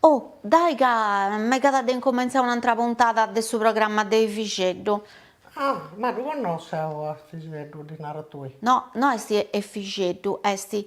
O, dae ca megat de incomentzai un'antra puntada de su programma de Efixeddu. Ah, ma ddu connosso eo a Efixeddu, ddu naras tui. No, no est Efixeddu, est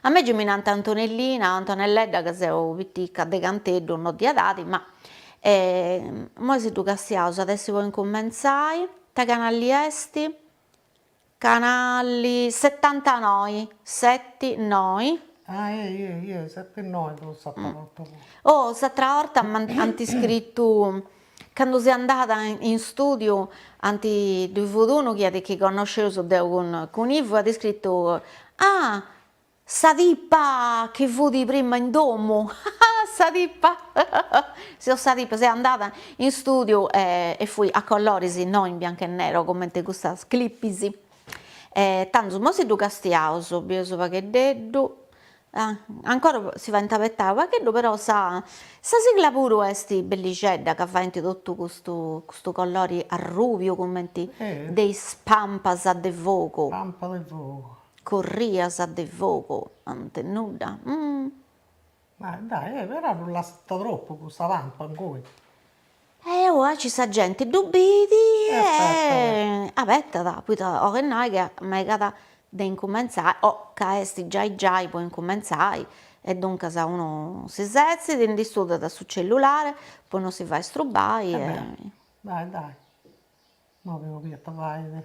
A mei mi nant Antonellina o Antonelledda ca seu pitica de canteddu no de edadi ma moi si ddu castiaus at essi po incumentzai, ita canalli est, canalli setantanoi seti noi, Ah eh seti noi ddu sciu deu puru, oh s'atera 'orta ant iscritu Candu seu andada in stùdiu ant ddu fut unu chi at chi connosceus deu cun Ivu at iscritu, Ah! Sa tipa chi fut prima in domu, ah! Sa tipa, sì, sa tipa, seu andada in stùdiu e fui a colloris no in biancu e nero comente custas clipis e tandus mo si ddu castiaus, bieus pagheddeddu, Ancora si faint abetai pagheddu però sa sa sigla puru est bellixedda ca faint totu custu custu collori arrubiu cumenti de is pampas de fogu pampa de fogu corrias de fogu ant nudda ma dai però non lassat tropu custa pampa ingoi Eh aici sa genti ddu bit e abetat, poita 'oit nai chi megat de incumentzai o ca est giai giai po incumentzai e duncas unu si setzit, ndi studat su cellulare po no si fai strubai e. Dai dai, no chi podiat fai.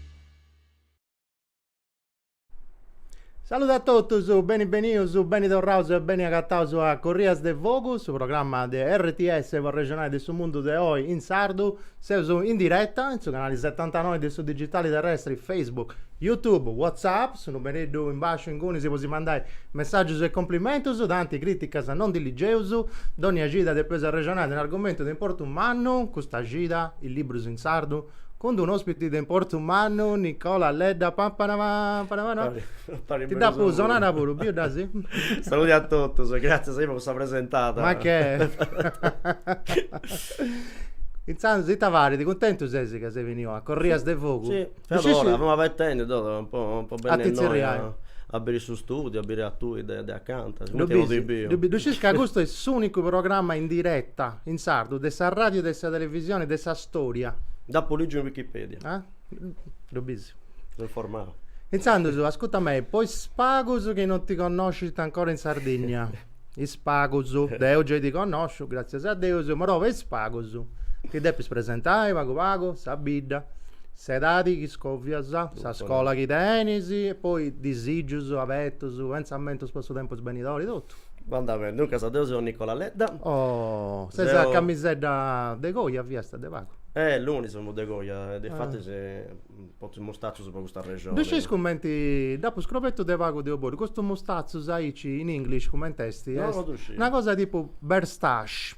Saludu a totus, beni benius, beni torraus e beni agataus a Corrias de Fogu, su programma de RTS po arrexonai de su mundu de oi in sardu. Seus in diretta in su canali setantanoi de su digitali terrestri, Facebook, YouTube, WhatsApp, su numereddu in basciu ingunis po si mandai messàgius e complimentus, tanti crìticas non ndi ligeus, donnia cida depeus arrexonai de un'argumentu de importu mannu, custa cida, is librus in sardu. cun d-unu ospiti de importu mannu, Nicola Ledda, pampanapampanapana, ti d'apu sonada puru, biu dda si? Saludi a totus, gratzias meda po sa presentada. Ma che? Intzandus ita fais? Cuntentu ses ca ses beniu a Corrias de Fogu? Sì, finora, femu abetendi totu po po benni innoi a biri su studiu, a biri a tui de de acanta, sigumenti non ti biu. Ddu scis ca custu est s'unicu programma in diretta in sardu de sa radiu e de sa televisioni de sa Storia. Dd'apo lìgiu in Wikipedia. Ah? Ddu bis? So informau. Intzandus, ascuta mei, po is pagus chi non ti connoscint ancora in Sardinnia, is pagus, deu gei ti connosciu, gràtzias a Deus, però po is pagus ti depis presentai pagu pagu, sa bidda, s'edadi chi scovias, sa scola chi tenis e poi disìgius, abetus, pentzamentus po su tempus benidori, totu. Banda bene, duncas deu seu Nicola Ledda. Oh, ses a camisedda de coja fiasta de pagu. Eh, Lunis femu de coja, difatis portu mustatzus po custa arrexoni. Ddu sciis cumenti, dd'apu scrobetu de pagu deu puru, custus mustatzus aici in English cumenti est? Est una cosa tipu beardstache.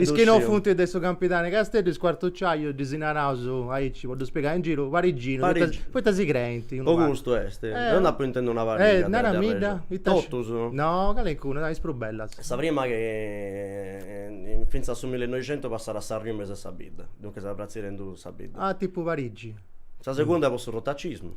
Is chi no funt de su Campidanu 'e Casteddu, is cuartuciajus ddis naraus aici, po ddus pigai in giru, pariginus, poita si creint unu pagu. Po custu est, deu nd'apu intèndiu una pariga. Naramidda. Totus? No, calincuna, is prus bellas. Sa prima chi fintzas a su millinoixentu passàt s'arriu in mesu 'e sa bidda, duncas pratziat in duus sa bidda. Ah, tipu Parigi. Sa segunda po su rotacismu.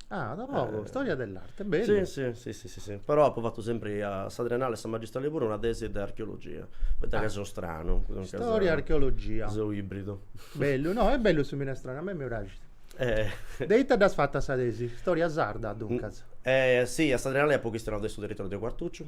Ah, da pagu, storia dell'arte, bellu. Si, si, si, si, si, però apu fatu sempri a sa triennale e a sa magistrali puru una tesi de archeologia, poita ca seu stranu. Storia e archeologia. Seu ibridu. Bellu, no, est bellu su minestrone, a mei mi praxit. De ita dd'as fata sa tesi? Storia sarda, duncas. Si, a sa triennali apu chistionau de su territoriu de Quartucciu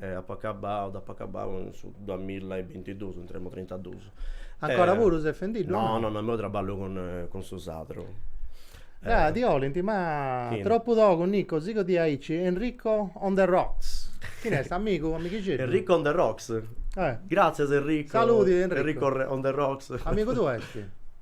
E apo acabau, dd'apo acabau in su duamilla e bintiduus, ndi tenemu trintaduus. Ancora puru ses fendiddu? No, no, no, imoi traballu cun cun su sadru. Ah, ti 'olint, ma Chini? tropu togu, Nico, sighi di aici, Enrico on the rocks. Chini est, amigu, amighixeddu? Enrico on the rocks? Eh. Gratzias Enrico. Saludi Enrico. Enrico on the rocks. Amigu tuu est?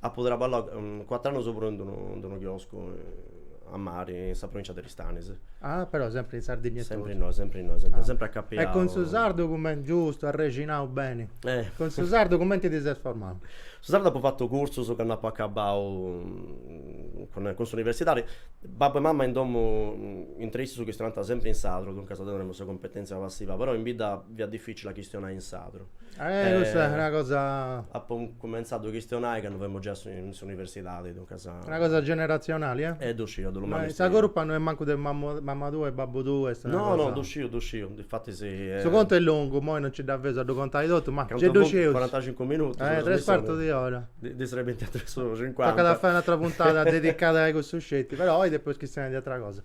Apu traballau cuatr'annus puru in d'unu chioscu a mari, in sa provincia de Aristanis. Ah, però sempri in Sardigna e totu. Sempri innoi, sempri innoi, sempri, sempri acapiau. E cun su sardu cumenti, giustu, arrexinau beni. Eh. Cun su sardu cumenti ti ses formau? Su sardu apu fatu cursus candu apu acabau cun cun s'universidadi. Babbu e mama in domu, intre issus chistionant sempri in sardu, duncas tenemu sa cumpetenzia passiva, però in bidda fiat dificili a chistionai in sardu. Eh, custa est una cosa. Apu cumentzau a ddu chistionai candu femu giai in s'universidadi, duncas. Una cosa generatzionali, eh? Eh, ddu sciu, ddu manifestiu. Sa curpa no est mancu de mama tua e babbu tuu, est una cosa. No, no, ddu sciu, ddu sciu, difatis. Su contu est longu, imoi non nci dda feus a ddu contai totu, ma gei ddu scius. Cuarantacincu minutus. Eh, tres cuartus di ora. Ndi serbint tres oras e cincuanta. Tocat a fai un'atra puntada dedicada a cussu sceti, però oi depeus chistionai de atra cosa.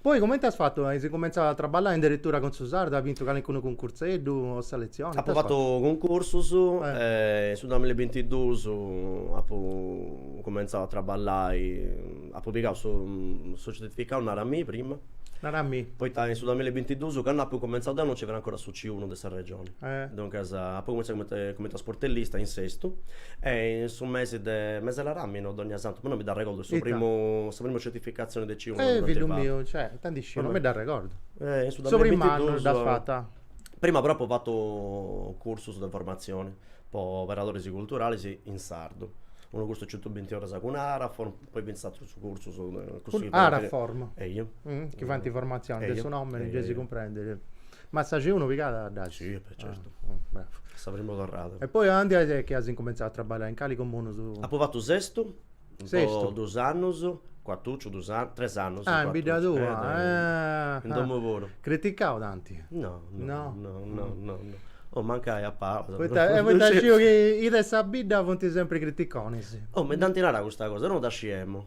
Poi comente as fatu? As incumentzau a traballai in deretura cun su sardu? As bintu calincunu cuncurseddu o selezioni? Apu fatu cuncursus in su duamilla e bintidus apu incumentzau a traballai, apu pigau su su certificau Naramì prima, Naramì, poita in su duamilla e bintidus candu apu incumentzau deu non nci fiat ancora su C unu de sa Regioni Duncas apu cumenzau cumenti cumenti a sportellista in Sestu e in su mesi de meselaràminu Dogna Santu, ma no mi dd'arregordu su primu sa primu certificatzioni de C uno candu dd'ant fatu. Cioè, no ddu sciu, non mi dd'arregordu. E in su Su primu annu dd'as fata? Prima però apu fatu cursus de formatzioni po operadoris culturalis in sardu. Unu cursu 'e cientubinti oras cun Araform, poi finzas atrus cursus de Cun Araform? Eju. Chi faint formatzioni, de su nomini gei si cumprendit. Ma sa C uno pigada dd'at? Sì, e certu. A sa prima torrada. E poi aundi est chi as incumentzau a traballiai, in cali comunu su. Apu fatu Sestu, po dus annus, Cuartuciu, dus annus, tres annus. Ah, in bidda tua. In domu puru. Criticau tanti? No, no, no, no, no, no. Oh, mancai a palas. Poita, poita sciu chi is de sa bidda funt sempri criticonis. Oh, mi dd'ant narau custa cosa, no dda sciemu.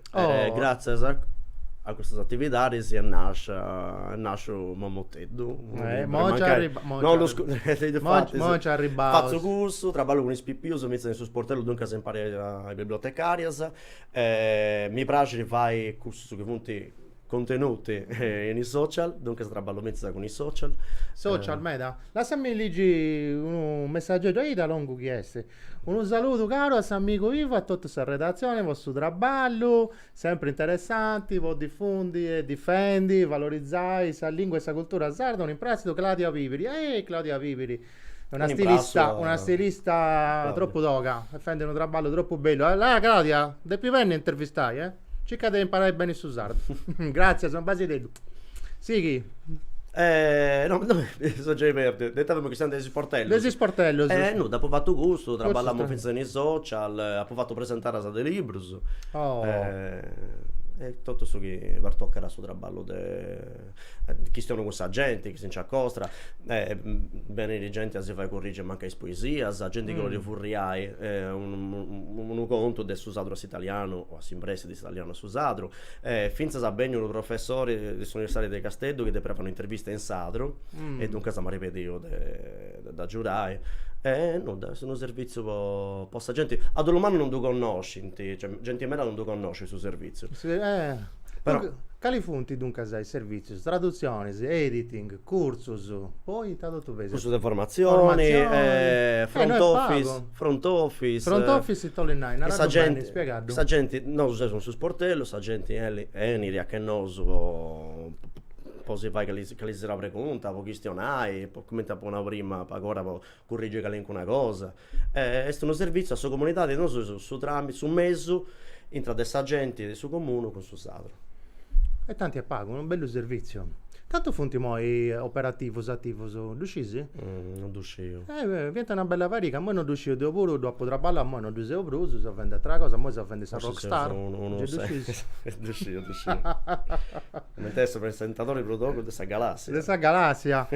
Oh. E gratzias a a custas atividadis est nascia est nasciu Momoteddu unu Eh, liburu, mo nci mancai arriba- mo nci non lu arriba- scu- e difatti mo nci- mo nci arribaus. fatzu cursus, traballu cun is pipius fintzas in su sportellu duncas impari a is bibliotecàrias e mi praxit fai cussus chi funt Contenuti in is social, duncas traballu fintzas cun is social. Social meda. Lassami ligi unu messageddu, aici longu chi est. Unu saludu caru a s'amigu Ivo, a totu sa redatzioni po su traballu sempri interessanti po difundi e difendi, valorizai sa lingua e sa cultura sarda, un imprassidu Claudia Pipiri. Ehi Claudia Pipiri, una stilista, una stilista tropu toga, fendi unu traballu tropu bellu. Allà Claudia, depis benni a t'intervistai eh. Circa de imparai beni su sardu. Gratzias, unu basideddu. Sighi. E no mi so giai perdiu, de ita femu chistionendi de is isportellus? De is isportellus. E nudda apu fatu custu, traballamu finzas in is social, apu fatu presentadas de librus. Oh. E totu su chi pertocat su traballu de Chistionu cun sa genti chi si nci acostra, benit genti a si fai currigi a mancai is poesias, genti chi 'olit furriai unu contu de su sardu a s'italianu o a s'impressi de s'italianu a su sardu, fintzas benniu unu professori de s'universidadi de Casteddu chi depiat fai un'intervista in sardu e duncas m'at pediu de dd'agiudai e nudda, est unu servitzu po sa genti, a dolu mannu non ddu connoscint, cioè genti meda non ddu connoscit su servitzu. Cali funt duncas is servitzus? Tradutzionis, editing, cursus, poi ita totu feis? Cursus de formatzioni, front office, front office. Front office ita 'olit nai? Naraddu beni, spiegaddu. Sa genti, nosu seus in su sportellu, sa genti 'eli, 'enit a che nosu po si fai calincuna pregunta, po chistionai, comente apo nau prima, pagora po currigi calincuna cosa, est unu servitziu a sa comunidadi, nosu seus su tramitu, su mesu intra de sa genti de su comunu cun su Sardu. E tanti e pagu, unu bellu servitziu. Cantu funt imoi operativus, ativus, ddu scisi? Non ddu sciu. Fiant una bella pariga, imoi non ddu sciu, deu puru ddui apu traballau, imoi non ddui seu prus, seu a fendi ateras cosas, imoi seu a fendi sa Rockstar. Forsis seus unu. Ddu sciu, ddu sciu Coment'est su presentadori prus togu de sa galàssia. De sa galàssia.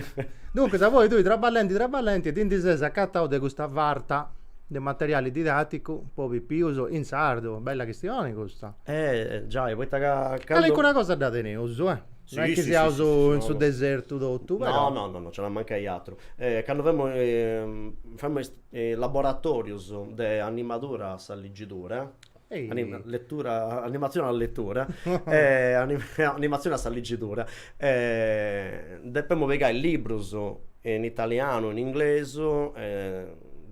Duncas, apoi tui, traballenti, traballenti, ti ndi ses acatau de custa farta de materiali didàticu po pipius in sardu? Bella chistioni custa. Eh, giai, poita ca candu. Calincuna cosa dda teneus, eh. Si, si, si. Non est chi siaus in su desertu totu, però. No, no, no, nci at a mancai aturu. Candu femus, faeus is laboratorius de animadura a sa ligidura. Letura, animatzione a letura animatzione a sa ligidura depemus pigai libbrus in italianu in inglesu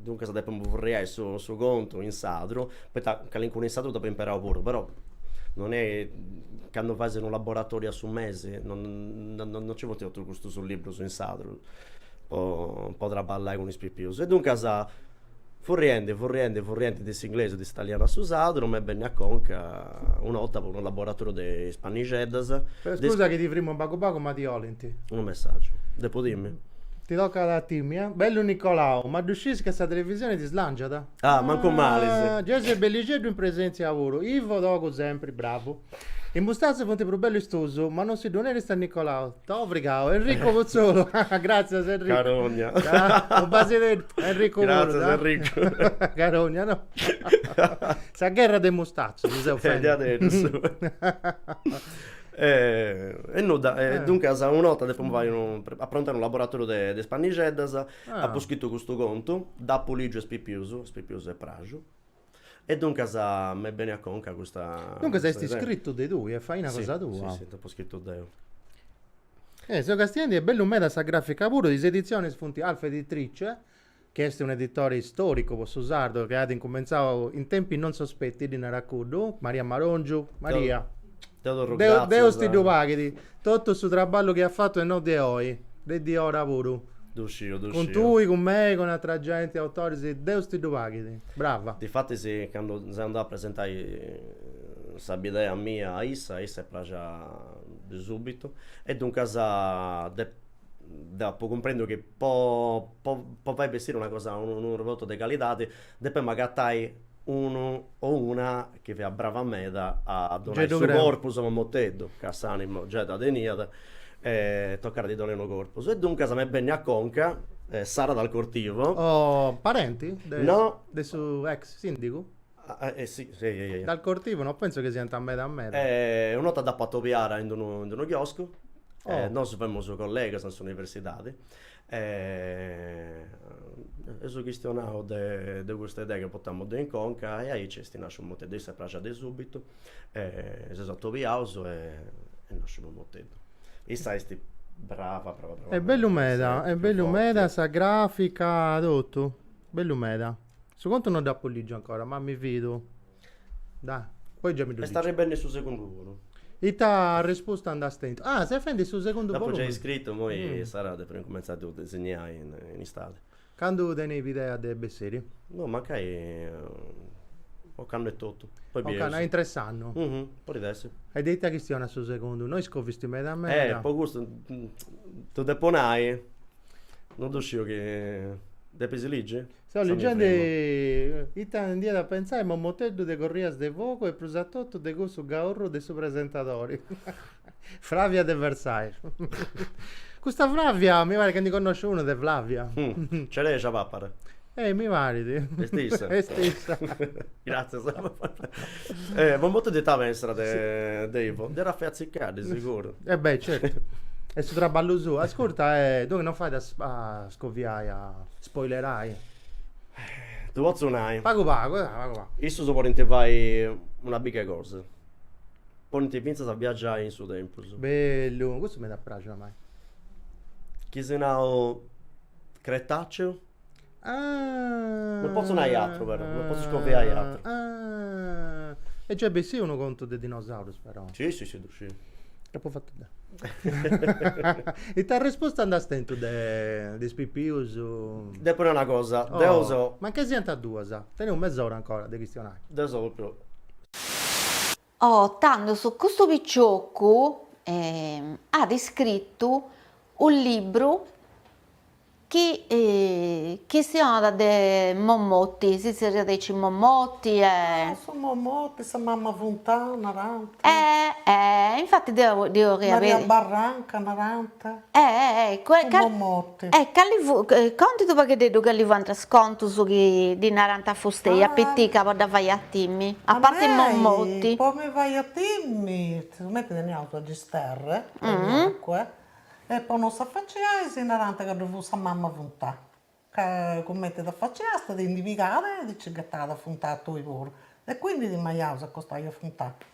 duncas depemus furriai su contu in sardu poita calincunu in sardu ddu apu imperau puru però non è candu fais unu laboratoriu a su mesi non non nci funt totus custus libbrus in sardu po po traballai cun is pipius e duncas Furriende, furriende, furriende de s'inglesu, de s'italianu a su sardu, m'est bennia a conca una 'olta po unu laboratòriu de is pannixeddas. Scusa chi ti frimu unu pagu pagu ma ti 'olint. Unu messàgiu. Depu timmi? Ti tocat a timmi, eh? Bellu Nicolau, ma ddu sciis che sa televisione ti slànciat? Ah, mancu mali! Giai ses bellixeddu in presèntzia puru. Ivo, togu sempri, bravu. Is mustatzus funt prus bellus is tuus, ma non si ddu neris a Nicolau. T'apu frigau, Enrico Putzolu. Gratzias Enrico. Carogna. Unu basideddu a Enrico puru. Gratzias Enrico. Carogna no. Sa gherra de is mustatzus si seus fendi. Diaderus. E nudda, duncas una 'orta depu fai unu, aprontai unu laboratoriu de is pannixeddas, apu scritu custu contu, dd'apu ligiu a is pipius, a is pipius est pràxiu E duncas m'est bennia a conca custa Duncas est iscritu de tui, est faina cosa tua. Si, si, dd'apo scritu deu. E seu castiendi est bella meda sa grafica puru, is editzionis funt Alfa Editrice, chi est un editore storicu po su sardu chi at incumentzau in tempi non sospetti, ddi narat cuddu, Maria Marongiu, Maria. Deus ti ddu paghit totu su traballu chi at fatu e no de oi, de diora puru. Ddu sciu, ddu sciu. Cun tui, cun mei, cun atera genti, autoris, Deus ti ddu paghit. Brava. Difatis candu seu andau a presentai sa bidea mia a issa, a issa est praxia de subitu e duncas deu apu cumprendiu chi po fai bessiri una cosa, unu prodottu de calidadi Depemu agatai unu o una chi fiat brava meda a donai su corpus a Momoteddu, ca s'animu giai ddu teniat e tocat a ddi donai unu corpus. E duncas m'est bennia a conca Sara Dal Cortivo. Oh, parenti? No. De su ex sindigu? Si, si. Dal Cortivo no penso chi siant meda meda. E una 'orta dd'apu atobiada in d'unu in d'unu chioscu e nosu femus collegas in s'universidadi E eus chistionau de de custa idea chi portamu deu in conca e aici est nasciu Momoteddu, a issa est praxia de subitu si seus atobiaus e est nasciu Momoteddu. Issa est brava brava brava meda, est bellu meda, est bellu meda sa grafica totu, bellu meda Su contu no dd'apu lìgiu ancora, ma mi fidu. Dai, poi già mi ddu lìgiu. Est arribendi su segundu volumi. Ita arrespusta nd'as tentu? Ah, ses fendi su segundu volumi. Dd'apu giai scritu, imoi Sara depit cumenzai a ddu disigniai in istadi. Candu teneis idea de bessiri? No, mancai ocannu etotu. Poi bideus. Ocannu, a intru 'e s'annu. Podit essi. E de ita chistionat su segundu? No iscovisti meda meda. Eh, po custu, ddu depu nai, No ddu sciu chi. Depis ligi? Seu ligendi ita nd'iat a pentzai Momoteddu de Corrias de Fogu e prus a totu de cussu gaurru de su presentadori. Flavia de Versailles. Custa Flavia mi parit ca ndi connosciu unu de Flavia. Ncereja papara. Ehi, mi parit. Est issa. Est issa. Gràtzias. Eh, Momoteddu iat a pensai de, de Ivo. Dd'iat a fai atzicai, de seguru. E beh, certu. Est su traballu suu. Ascurta, e duncas non fait a scoviai, a spoilerai? Ddu potzu nai. Pagu pagu, dai, pagu pagu. Issus podint fai una biga 'e cosa. Podint fintzas viaggiai in su tempus. Bellu, custu mi at a praxi a mei. Chi si nau, Cretaceu. Ah! Non potzo nai atru però, non potzo scoviai atru. Ah! E già est bessiu unu contu de dinosaurus però. Si si si ddu sciu. Dd'apu fatu deu. Ita arresposta nd'as tentu de de is pipius? Depu nai una cosa, deu seu. Oh! Mancai siant duas, teneus mes'ora ancora de chistionai. Deu seu propriu. Oh, tandus custu piciocu at iscritu unu libru chi chistionat de Momotti, si zerriat aici Momotti e. Ah, su Momotti, sa mamma Funtana narant. Eh, eh, infati deu dd'eus. Maria Barranca narant. Eh, eh, eh, cue. Su Momotti. E cali fu, contit u' pagheddeddu cali fuant is contus chi ddi narant a fustei, a pitica, po dda fai a timi, a parti Mommoti. Po mi fai a timi, sigumenti teniaus sa gisterra, teniat acua, e po non s'afaciai si narant ca ddu fut sa mama 'e funtà, ca cumenti t'afaciast ti ndi pigàt e ti nci ghetàt a funtà a tui puru, e quindi timaiaus a acostai a funtà.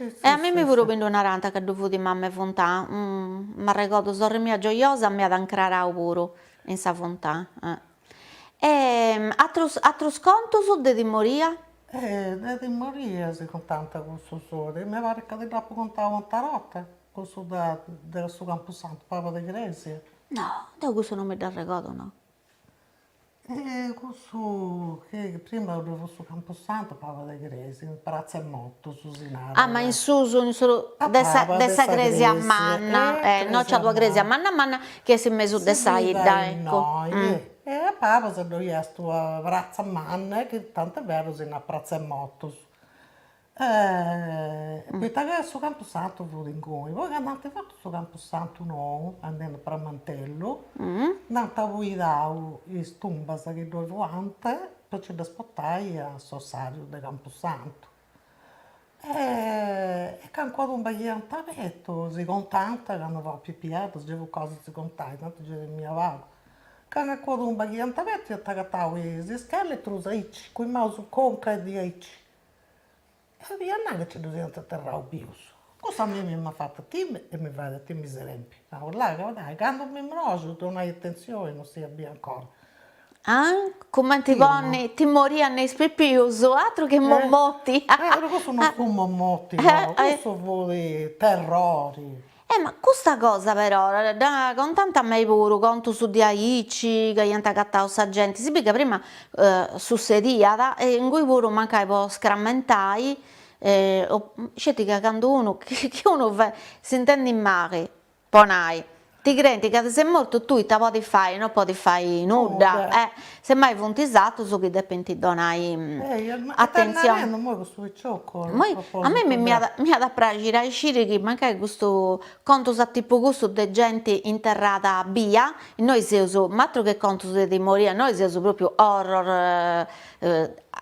E a mimi puru mi ddu narànt ca ddu fut mama 'e funtà, m'arregodu sorri mia giojosa m'iat ancrarau puru in sa funtà. E atrus atrus contus de timoria? De timoria si contant cussu solu, mi parit ca ti dd'apu contau u' ata 'orta, cussu de de su campusantu, pabas de cresia. No, deu cussu no mi dd'arregodu no. Cussu chi prima ddu fut su campusantu pabas de cresia, in pratza 'e motus si narat. Ah ma in su de sa cresia manna, innoi nc'at una cresia manna manna chi est in mesu de sa 'idda, ecco. E a pabas ddoi est una pratza manna, chi tanti est berus si narat pratza 'e motus poita ca su campusantu fut inguni, poi candu ant fatu su campusantu nou, andendu a Pramantellu, nd'ant abuidau is tumbas chi ddoi fuant po nci ddas portai a s'ossariu de campusantu e calincuna tumba chi iant abertu si contant candu fuaus pipias, gei fut cosa de si contai, tanti gei timia pagu, calincuna tumba chi iant abertu iant agatau is ischeletrus aici, cun is maus in conca e diaici E sa fia nana chi nci ddu siant aterrau pius, cussa a mimi m'at fatu timiri e mi fait a timiri sempri, nau, là ca nai, candu mi morosu donai atenzioni, non siat bia ancora. Cumenti ponni timori a nnoi is pipius, aturu chi momoti. Cussu non fut momoti, cussu fut terrori E ma custa cosa però dda contant a mei puru, contus de aici ca iant agatau sa genti, si bi ca prima sussediat e ingui puru mancai po scrammentai sceti ca candu unu chi unu fait s'intendit mali po nai ti creint ca ses mortu tui ita podis fai, no podis fai nudda e Semmai funt is atrus chi depint donai atentzioni. Est imoi custu piciocu a propositu de. A mei mi at a praxiri a sciri chi mancai custu contus a tipu cussu de genti interrada bia, innoi seus, ma atru che contus de timoria, innoi seus propriu horror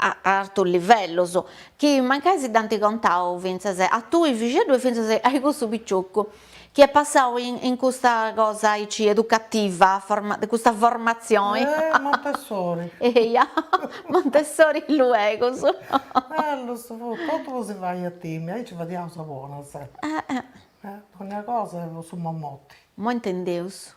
a artus livellus, chi mancai si dd'ant contau fintzas a tui fixeddu e fintzas a cussu piciocu. Chi est passau in custa cosa aici educativa, de custa formatzioni. Eh Montessori. Eia, Montessori luegus. Bellus funt, totu ddu si faiat timiri, aici fadiaus a bona sempri. Eh. Dogna cosa po su Mommoti. Moi intendeus.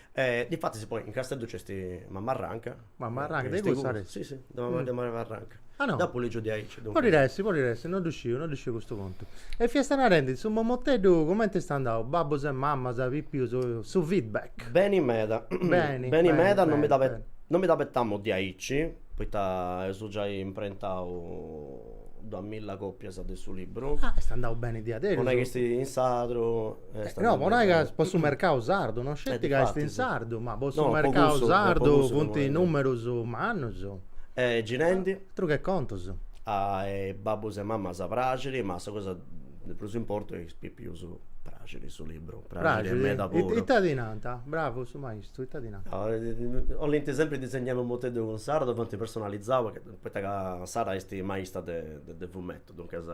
E difatis poi in Casteddu nc'est Mamarranca. Mamarranca, de cui sa resi? Si si, de mamma de Mamarranca. Ah no. Dd'apu ligiu diaici, duncas. Podit essi, podit essi, no ddu sciu, no ddu sciu custu contu. E fiast narendi, su Momoteddu cumenti est andau, babbus e mamas, pipius, su feedback? Beni meda. Beni, beni meda, non mi beni, beni. Non mi dd'abetamu diaici, poita eus giai imprentau duas milla copias de su libru. Ah, est andau beni diaderus. Po nai chi est in sardu. Eh, no, po nai ca po su mercau sardu, no sceti eh, ca est in sardu, ma po su no, mercau po cussu, sardu funt numerus mannus. Eh, girendi. Ah, atru che contus. A babbus e mamas praxit, ma sa cosa de prus importu est chi a is pipius praxit su libru. Praxit meda puru. Ita ti nant? Bravu su maistu, ita ti nant? 'olint sempri disegnai unu Momoteddu cun Sara, ddu faint personalizau Poita ca Sara est maista de fumetu, duncas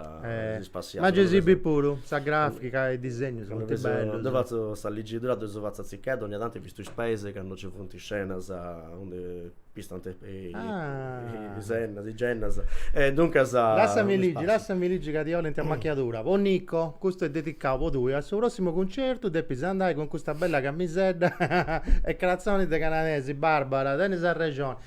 si spassiat. Ma gei si bit puru, sa grafica e is disegnus funt bellus. Deu fatzu sa ligidura deu fatzu a tziccheddu, ogna tantu pistu is peis candu nci funt is scenas undi pistant is ennas, is gennas. E duncas. Lassami ligi, lassami ligi ca ti olint a machiadura. Po Nico, custu est dedicau po tui, a su prossimu concertu depis andai cun custa bella camisedda e cratzonis de canadesi, Barbara, tenis arrexoni.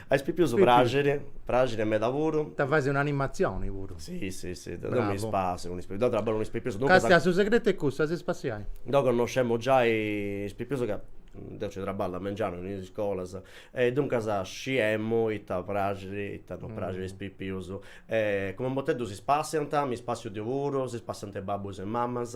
A is pipius praxit, praxit meda puru. Ita fais una animatzioni puru. Si si si, deu mi spassiu cun is pipius, deu traballu cun is pipius, duncas. Castia su segretu est custu, a si spassiai. Deu connoscemu giai is pipius ca deu nci traballu a mengianu in is iscolas e duncas sciemu ita praxit e ita non praxit a is pipius e cun Momoteddu si spassiant, mi spassiu deu puru, si spassiant is babbus e is mamas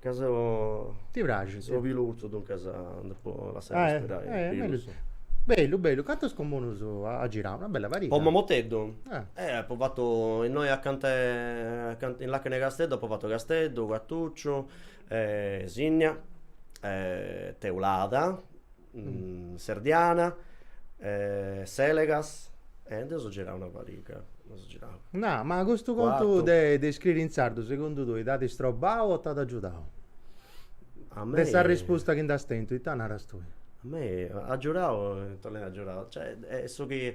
Ca seu Ti praxit? Seu pilurzu, duncas depu lassai arrespirai is pilus. Bellu bellu, cantus comunus as girau? Una bella pariga. Po Momoteddu? Eh apu fatu innoi acanta 'e acanta in làcana 'e Casteddu apu fatu Casteddu, Cuartuciu, Sinnia, Teulada Serdiana, Selegas, e nd'eus girau una pariga, nd'eus girau. Na, ma custu contu de de iscriri in sardu segundu tui t'at istrobau o t'at agiudau? A mei. De sa rispusta chi nd'as tentu, ita naras tui? A mei agiudau, ita nai agiudau, cioè est su chi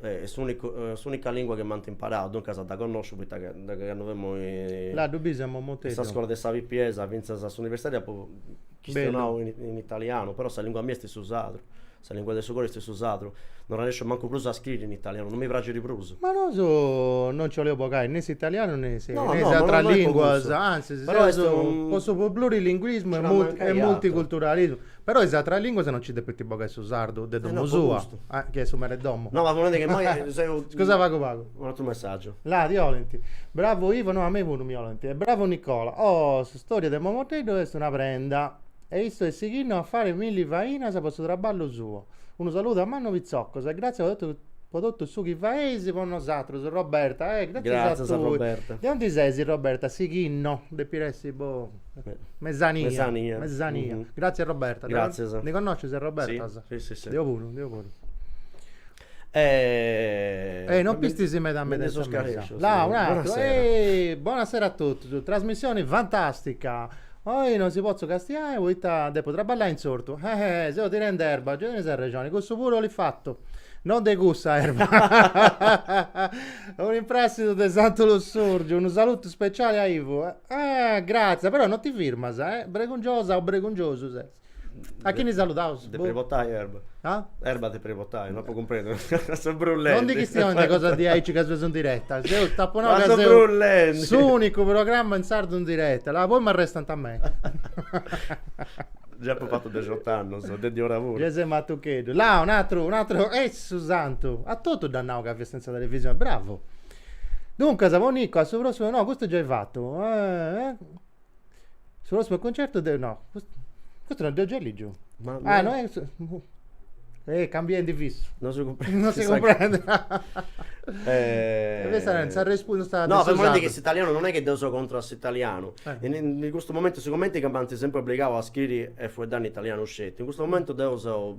Est s'unica lingua chi m'ant imparau, duncas dda connosciu poita ca de candu femus in sa scola de sa pipiesa fintzas a s'universitadi apu chistionau in italianu, però sa lingua mia est su sardu, sa lingua de su coru est su sardu, non arrenesciu mancu prus a scriri in italianu, non mi praxit prus. Ma nosu non nci 'oleus bogai ne s'italianu ne is ateras linguas, antzis seus po su plurilinguismu e multiculturalismu Però is atras lìnguas no nci depint bogai su sardu de domu sua, chi est su mere 'e domu. No, ma po nai chi immoi seu. Scusa pagu pagu. Unu atru messàgiu. Là ti 'olint. Bravu Ivo, no, a mei puru mi 'olint. E bravu Nicola. Oh, s'istòria de Momoteddu est una prenda. E issu est sighinnu a fai milli fainas po su traballu suo. Unu saludu mannu pitzoccos e gratzias po totu po totu su chi faeis po nosatrus. Roberta, Eh, gratzias a tui. Gratzias Roberta. De aundi ses Roberta? Sighinno, depit essi Mesania. Mesania. Gratzias Roberta. Gratzias. Dda connoscis a Roberta? Si si si. Deu puru, deu puru. E non pistis meda meda in sa mesa. Là, un'ateru. Ehi, bonasera a totus. Trasmissioni fantastica. Oi non si potzu castiai poita depo traballai in s'ortu. Ehi, seu tirende erba. Gei tenis arrexoni, cussu puru 'olit fatu. Non de cussa erba. Un'impressidu de Santu Lussurgiu. Unu saludu speciale a Ivu. Ah, gratzias, però non ti firmas, eh? Bregungiosa o bregungiosu ses? A chini saludaus? Depit bogai erba. Ah? Erba depit bogai, no apu cumprendiu. Seu brullendi. Non ndi chistionis de cosas diaici ca seus in diretta. Seu, t'apu nau ca seus s'unicu programma in sardu in diretta. La, poi m'arrestant a mei. Già apu fatu dexot'annus, de diora puru. Già ses matucheddu. La, un'atru, un'atru, e su santu. A totus dd'as nau ca fiast in sa televisioni. Bravu. Duncas, po Nico, a su prossimu, no, custu giai fatu, su prossimu cuncertu deu, no, custu non dd'eus giai ligiu, ah, no est, eh, cambiendi fissu, non si cumprendi, non si cumprendi, no, fai a menti chi s'italianu non est chi deu seu contra a s'italianu, in custu momentu sigumenti ca m'ant sempri obligau a scriri e fueddai in italianu sceti, in custu momentu deu seu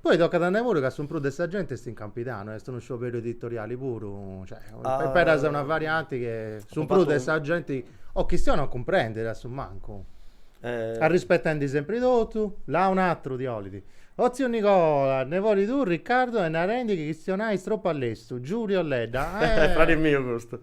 Poi tocat a nai puru ca su prus de sa genti est in Campidanu, est unu scioberiu editoriali puru, cioè, imperas una varianti che su prus de sa genti o chistionat o cumprendit a su mancu, arrispetendi sempri totu, là un'atru ti 'olit, o tziu Nicola, nebodi tuu Riccardo est narendi chi chistionais tropu a lestu, Giulio Ledda, eh! Fradi miu custu.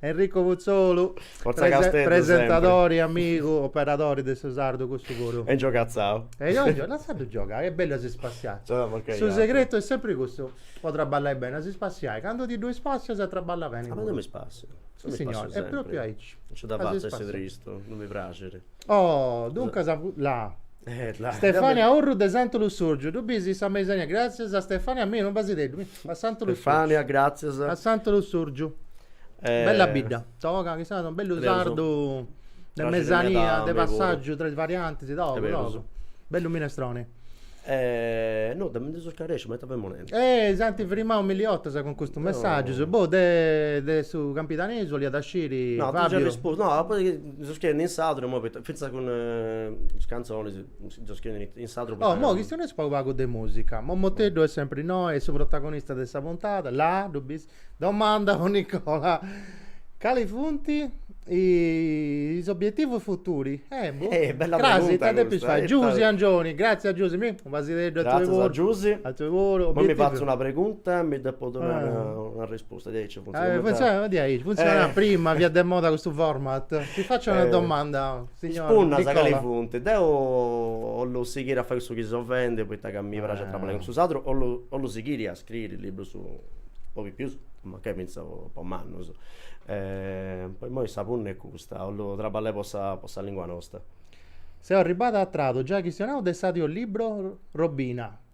Enrico Putzolu, Forza prese- Casteddu presentadori, amigu, operadori de su sardu cussu puru. E giogatzau. E io gio- lassaddu giogai, est bellu a si spassiai. Giogat po chi Su iat. segretu est sempri cussu, po trabballai beni, a si spassiai, candu ti ddoi spassias trabballas beni Ma puru. deu mi spassio. Deu mi Signori, spassio è proprio sempri. aici. Non nci dda A si fatzu a essi spassiai. tristu, non mi praxit. Oh, duncas, la, Stefania Urru de Santu Lussurgiu ddu bis in sa mesania Gràtzias a Stefania mia unu basideddu mi a Santu Lussurgiu Stefania gràtzias a Santu Lussurgiu bella bidda toga chi sarada unu bellu sardu de mesania de passàgiu tra is variantis togu togu bellu minestroni no de mi ndi seu scarèsciu m'at a fai moneddu eh si ant frimau milli 'otas cun custus messàgius boh de de su campidanesu 'oliat a sciri Fabiu no apu Seus scriende in sadru ma finzas cun is cantzonis seus scriende in sadru poita. Oh mo chistioneus pagu pagu de musica Momoteddu est sempri innoi est su protagonista de sa puntada la ddu bis domanda po Nicola cali funt is obietivus futuri boh Eh bella pregunta crasi ita depis fai Giusi Angioni gratzias Giusi unu basideddu a tui puru gratzias a Giusi a tui puru obietivu. Imoi mi fatzu una pregunta mi depu donai una risposta. Custa diaici non funtzionat meda. Funtzionat diaici, funtzionat prima, fiat de moda custu format. Ti facio una domanda, signor Nicola. Is punnas cali funt? Deu 'ollu sighiri a fai cussu chi seu fendi poita ca mi praxit a traballai cun su sadru, 'ollu 'ollu sighiri a scriri librus po pipius, mancai fintzas po mannus. Po immoi sa punna est custa, 'ollu traballai po sa po sa lingua nosta. Seu arribada a tradu, giai chistionau de s'audiolibro Robina.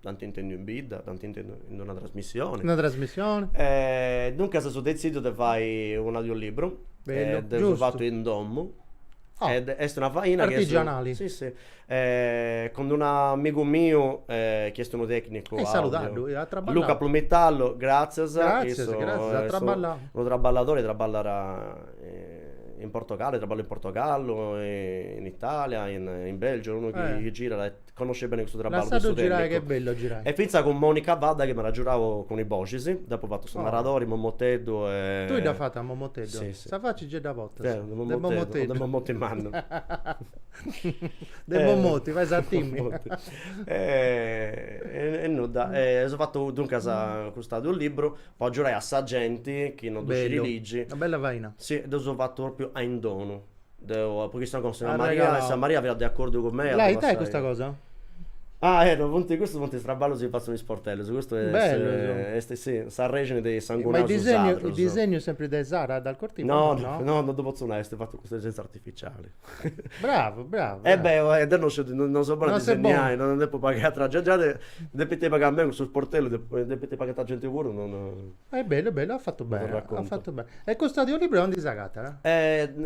Dd'ant intendiu in bidda, dd'ant intendiu in una trasmissioni. In una trasmissioni. E duncas seu detzidiu de fai un'audiolibru. Bellu, giustu. Dd'eus fatu in domu. Oh. Ed est una faina chi est. Artigianali. Si, si. E cun d'unu amigu miu chi est unu tecnicu audio. Saludaddu, at traballau. Luca Plumitallo, gratzias. Gratzias, gratzias, at traballau. Unu traballadori, traballat in Portogallo, traballat in Portogallo, in Italia, in Belgiu, unu chi girat e Connosci beni custu traballu de su tènnicu. Lassaddu girai ch'est bellu a girai. E fintzas cun Monica Vadda chi m'at agiudau cun is boxis, deu apu fatu su naradori, Momoteddu e. Tui dd'as fata a Momoteddu? Si si. Sa faci giai dda portas. Deu, de Momoteddu. De Momoteddu. O de Momoti mannu. De Momoti, fais a timi. E nudda, seu fatu duncas custu audiolibru po agiudai a sa genti chi non ddu scit ligi. Bellu, una bella faina. Si, ddu seu fatu propriu a in donu. Deu apu chistionau cun Santa Maria ma Santa Maria fiat de acordu cun mei. Lah ita est custa cosa? Ah eh no funt custus funt is traballus chi fatzint is sportellus, custu est bellu est si s'arrexini de is sangunaus sardus. Ma su disegnu su disegnu est sempri de Sara dal Cortipanu no? No no no ddu potzu nai est fatu cun s'intelligenza artificiali. Bravu bravu. E beh oe deu no sciu no seu bonu a disegnai no depint pagai atrus genti, gei depint pagai a mei cussus sportellus depint pagai atrus genti puru no no E bellu, bellu, at fatu bene, at fatu bene. E custu audiolibru aundi s'agatat?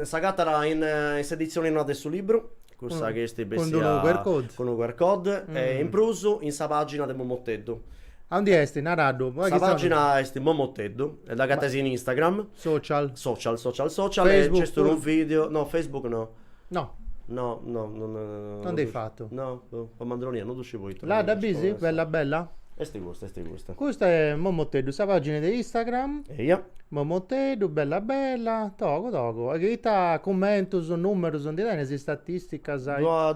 S'agatat in s'editzione noa de su libru, cussa chi est bessia... Cun unu QR code. Cun unu QR code e in prus in sa pàgina de Momoteddu. Aundi est? Naraddu. Sa pàgina est Momoteddu e dd'agateis in Instagram. Social. Social, social, social e nc'est unu video, no Facebook no. No. No, no, no, no, no. Non dd'eis fatu. No, no, po mandronia, no ddu sciu poita. La dda bis? Bella bella? Esti custa, esti custa. Custa è Momoteddu, sa pagina de Instagram. Eia. Momoteddu, bella bella, togu togu. E ita commentus, numerus, ndi tenis istatisticas?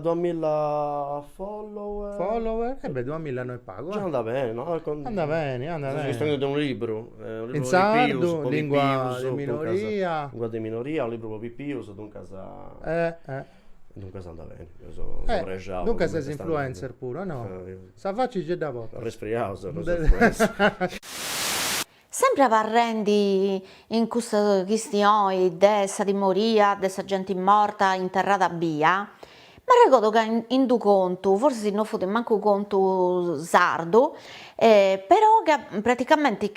Duamilla follower. Follower? E beh, duamilla no è pagu. Già andat beni, no? Andat beni, andat beni. Chistionende de unu libru. In sardu, lìngua de minoria. Lìngua de minoria, libru pro pipius, duncas, duncas andat beni, seus prexaus. Duncas ses influencer puru o no? Sa faci gei dda portas. Arresfriau seu prus influencer. Sempre abarrendi in custa chistioni de sa timoria de sa genti morta interrada bia, M'arregodo ca in d'u contu, forsis si no fut mancu contu sardu, però ca praticamenti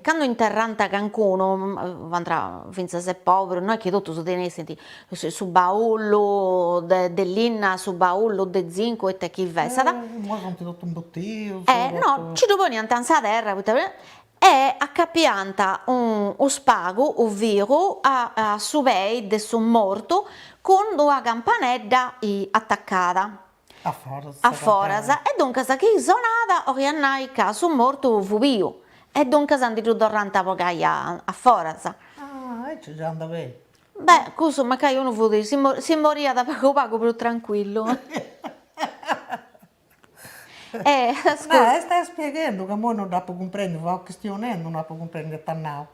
cando interrànt cancunu, fiant fintzas e pòberus, no est chi totus tenessint su baullu de linna, su baullu de zincu, ita chi fessat, no, nci ddu poniant in sa terra, poita e acapiant unu spagu unu filu a su pei de su mortu cun d'una campanedda atacada a foras e duncas chi sonat 'oliat nai ca su mortu fut biu e duncas ndi ddu torrant a bogai a foras. Ah aici già andàt beni. Beh cussu mancai unu fut si moriat pagu pagu prus trancuillu. Est spieghendu ca imoi no dd'apu cumprendiu, fia chistionendu, no apu cumprendiu ita at nau.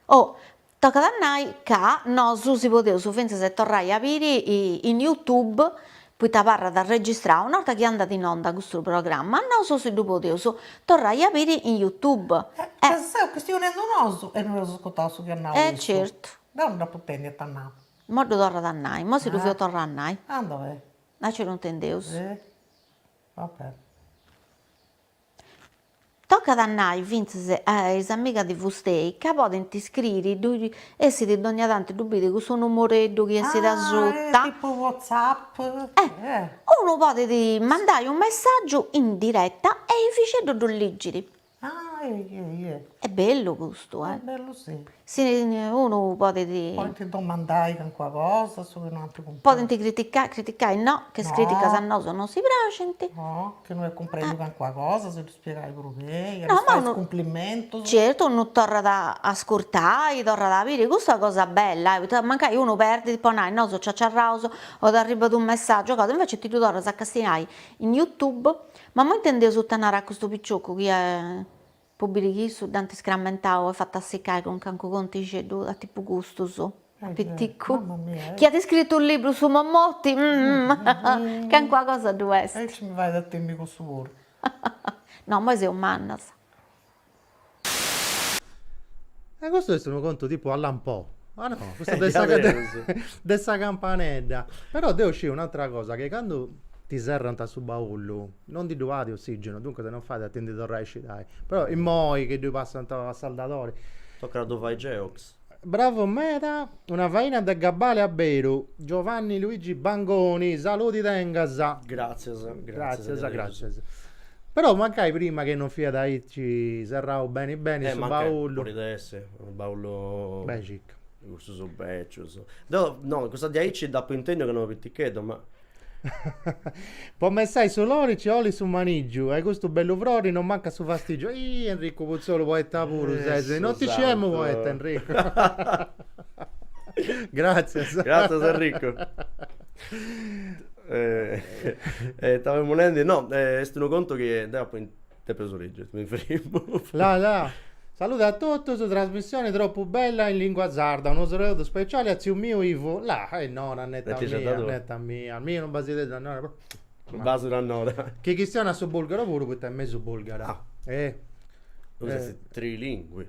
Oh, tocat a nai ca nosu si podeus fintzas e torrai a biri in Youtube, poita abarrat registrau, una 'orta chi andat in onda custu programma, nosu si ddu podeus torrai a biri in Youtube. Ca seus chistionendu nosu e no eus ascurtau su chi at nau issu. E certu. Deu no dd'apu intendiu ita at nau. Imoi ddu torrat a nai, imoi si ddu feus torrai a nai. Andat beni. Naci no intendeus. va bene. Tocat a nai fintzas a is amigas de Fustei ca podint iscriri ddoi essit dogna tanti ddu bidit cussu numoreddu chi essit asuta, tipu whatsapp, unu podit mandai unu messaggiu in diretta e Efixeddu ddu ligit. Ah eja eja. Est bellu custu eh. Est bellu si. Si unu podet. Podint domandai calincuna cosa, su chi no ant cumpresu. Podint criticai, criticai no, ca is criticas a nosu no si praxint. No, chi no est cumprendiu calincuna cosa, si ddu spiegai puru chei, ddu fai is cumplimentus. Certu, unu torrat a ascurtai, torrat a biri, custu est una cosa bella, poita mancai unu perdit, po nai, nosu ciaciarraus o t'arribbat unu messaggiu o cosa, invecias ti ddu torras a castiai in YouTube Ma moi intendeus ita narat custu piccioccu chi po biri chi issu dd'ant iscrammentau e fatu assiccai cun cancu contixeddu a tipu custus, a piticcu, chi at iscrittu u libru su Mommoti, cancua cosa ddu est. E aici mi fait a timi cussu puru. No, immoi seus mannas. E custu est unu contu tipu Allan Poe. Ma no, custu de sa de sa campanedda. Però deu sciu un'atra cosa, che candu ti serrant su baullu, non ndi ddu at ossigenu, duncas non fait a ti ndi torrai a iscidai. Però immoi chi ddu passant a saldadori. Tocat a ddu fai Geox. Bravu meda, una faina de gabbale a beru, Giovanni Luigi Bangoni, saludi tengas. Gràtzias, gràtzias, gràtzias. Però mancai prima chi non fiat aici serrau beni beni su baullu. Podit essi, unu baullu. Beni circa. De cussus bècius. Deu, no, cussa diaici dd'apu intendiu ca no piticheddu, ma Po messai su lori nci 'olit su manigiu e custu bellu frori non mancat su fastigiu. Ih Enricu Putzolu poeta puru ses, non ti sciemu poeta Enricu. Gràtzias. Gràtzias Enricu. Ita femu nendi, no est unu contu chi deu apu De prus ligi, mi frimu. La la. Salude a totus, trasmissioni tropu bella in lingua sarda, unu saludu speciali a tziu miu Ivu, la, e Nora netta Netta sa mia, tua. netta mia, mi unu basideddu a Nora puru Unu basu a Nora. Chi chistionat su bulgaru puru poita est mesu bulgara. Ah. E. Tui puru trilingui.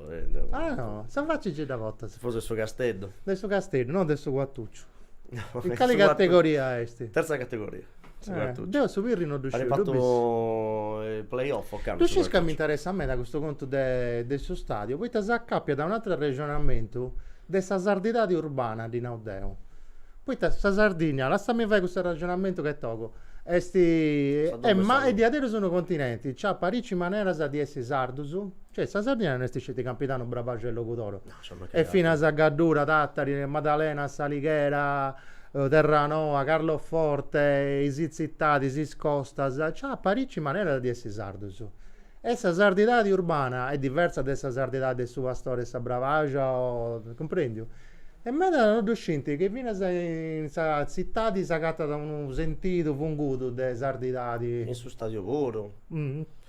Ah no, sa faci ci dda potas. Ses de su Casteddu. De su Casteddu, no de su Cuattucciu. In cali categoria est? Terza categoria. Deu su Pirri no ddu sciu. At fatu is play off ocannu. Ddu sciis ca m'interessat meda custu contu de de su stadiu, poita s'acapiat a un'atru arrexonamentu de sa sardidadi urbana, ddi nau deu. Poita sa Sardigna, lassami fai custu arrexonamentu ca est togu, est diaderus unu continenti, nc'at parici maneras de essi sardus, Cioè sa Sardigna no est sceti Campidanu, Brabàxia e Logudoro. E finas sa Gaddura, Tàtari, Madalena, S'Alighera, Terranoa, Carloforte, is tzitadis, is costas, nci at parìci maneras de essi sardus. E sa sardidadi urbana est diversa de sa sardidadi de su pastori 'e sa Brabàxia o, cumprendiu? E medas no ddu scinti chi finas in sa tzitadi s'agatat unu sentidu fungudu de sardidadi. In su stadiu puru.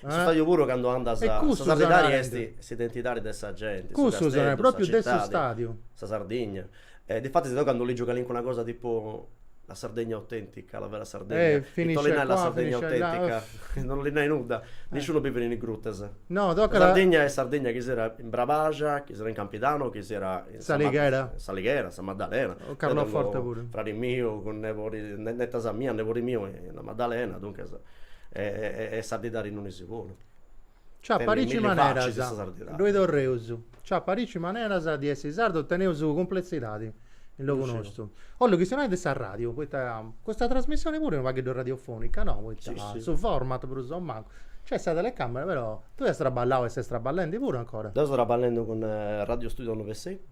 Su stadiu puru candu andas, sa sardidadi est s'identidadi de sa genti, su Casteddu, sa citadi, sa Sardigna. Difatis deu candu ligiu calincuna cosa tipu la Sardegna autentica, la vera Sardegna, ita bollit nai la Sardegna autentica, non bollit nai nudda, nisciunu bivit in is grutas. Sa Sardigna est Sardigna chi siat in Brabaxa, chi siat in Campidanu, chi siat in S'Alighera, S'Alighera, Sa Maddalena, deu tengu fradi miu cun nebodi, netas mias, nebodi miu in La Maddalena, duncas e sardidadi in unu segunu. Nci at parici maneras, ddoi torreus, nci at parici maneras de essi sardus, teneus cumpletzidadi in logu nostu. Ollu chistionai de sa radiu, poita custa trasmissioni puru est unu pagheddu radiofonica, no? Poita su format prus o mancu, nc'est sa telecamera però, tui as traballau e ses traballendi puru ancora? Deu seu traballendi cun Radio Studio Novesei cun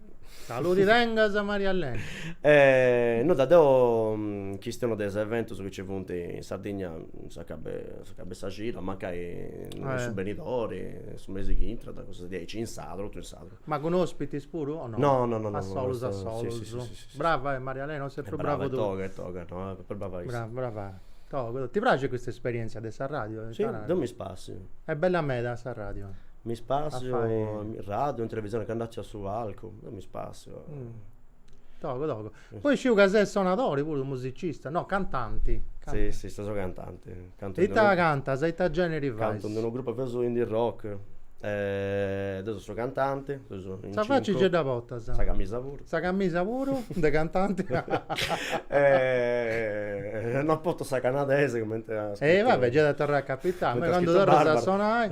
Saludi tengas Marialena. E no, ddoi deo chistionu de is eventus chi ci funt in Sardigna s'acabu de sa cida, mancai su benidori su mesi chi intrat cussus diaici in sardu totu in sardu. Ma cun ospitis puru o no? No no no no a solus a solus. Brava e Marialena o ses prus brava tui. Toga e toga no est prus brava issa. Brava toga. Ti praxit custa esperienzia de s'arradiu? Si deu mi spassiu. Est bella meda s'arradiu. Mi spassio, radiu, in televisione, candu artziu a su palcu, mi spassio. Togu togu. Poi sciu ca ses sonadori puru, musicista, no, cantanti. Si, si, seu cantanti. Ita cantas, ita generi fais? Cantu in d'unu grupu, feus indie rock. Deu seu su cantanti, seus in cincu. Sa faci gei dda portas? Sa camisa puru. Sa camisa puru de cantanti? Non portu sa canadesa cumenti. E va bè, gei at a torrai a capitai. Candu torras a sonai.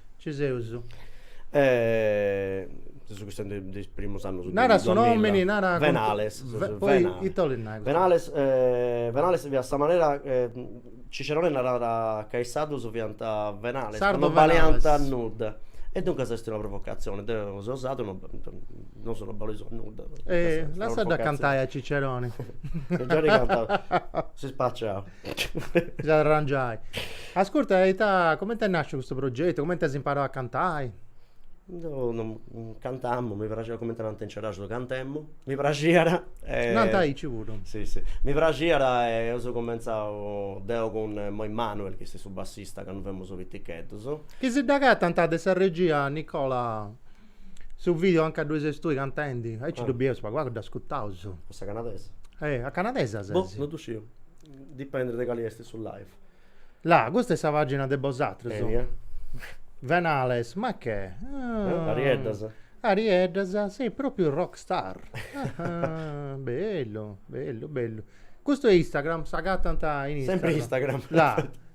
Ci seus. E seus chistionendi de is primus annus de duamilla. Nara su nomini, nara. Venales. Poita, ita 'olit nai. Venales Venales fiat sa manera Cicerone narat ca is sardus fiant venales, ca no baliant a nudda. E duncas est una provocazione, deu seu sardu no nosu no baleus a nudda. Lassaddu cantai a Cicerone. Cicerone cantat, si spàssiat. Gei at a arrangiai. Ascurta, e ita, comente est nàsciu custu progetu, comente as imparau a cantai? Deu cantamu, mi praxiat, comente nant in Ceraxus, cantemu, mi praxiat e. Nant aici puru. Si si, mi praxiat e eus cumenzau deu cun Emanuel, chi est su bassista, candu femus piticheddus. Chi si dd'agatant de sa regia, Nicola, su video anca ddoi ses tui cantendi? Aici ddu bieus, pagu pagu dd'ascutaus. A sa canadesa? Eh, a canadesa ses. Boh, no ddu sciu. Dipendet de cali est su live. La, custa est sa pàgina de bosatrus. Enia. Venales, ma che? Ah, Arieddas. Arieddas, sei pròpiu rock star. bellu, bellu, bellu. Custu est Instagram, s'agatant in Instagram. Sempre Instagram. La.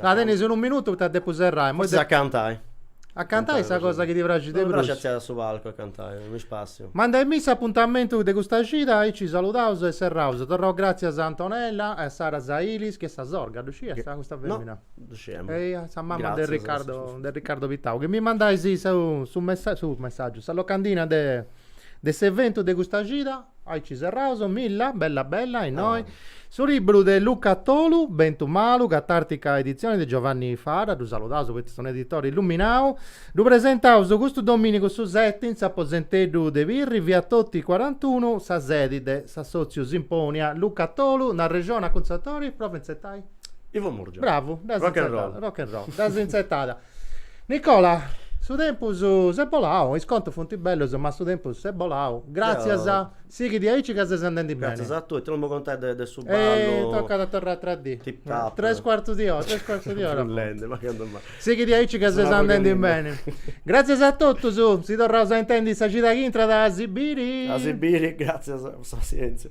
La tenis unu minutu poita depu serrai. Forsis a cantai. A cantai est sa cosa chi ti praxit de prus. Mi praxit a tzerrai a su palcu a cantai, mi spassiu. Manda·mì s'apuntamentu de custa cida, aici saludaus e serraus. Torraus gratzias a Antonella e a Sara Zailis chi est sa sorga, ddu sciast custa femina? No, ddu sciemu. E a sa mama de Riccardo, de Riccardo Pittau chi mi mandais su su messaggiu, sa locandina de de s'eventu de custa cida. Aici serraus, milla, bella bella, innoi. Su libru de Luca Tolu, Bentu malu, catàrtica editzioni de Giovanni Fara, ddu saludaus poita est unu editori illuminau, ddu presentaus custu domìnigu su seti in s'aposenteddu de Pirri, via Toti cuarantunu, sa sedi de s'assòtziu Simponia. Luca Tolu, nd'arrexonat cun s'autori, prova a intzertai? Ivo Murgia. Bravu, dd'as intzertada, rock and roll, dd'as intzertada. Nicola, su tempus s'est bolau, is contus funt bellus ma su tempus s'est bolau, gràtzias, sighi diaici ca ses andendi beni. Gràtzias a tui, ita non mi contais de de su ballu. E tocat a torrai atra dì. Tip tap. Tres cuartu di ora, tres cuartu di ora. Prus lendi, ma candu mai. Sighi diaici ca ses andendi beni. Gràtzias a totus, si torraus a intendi sa cida chi intrat a si biri. A si biri, gràtzias po sa passièntzia.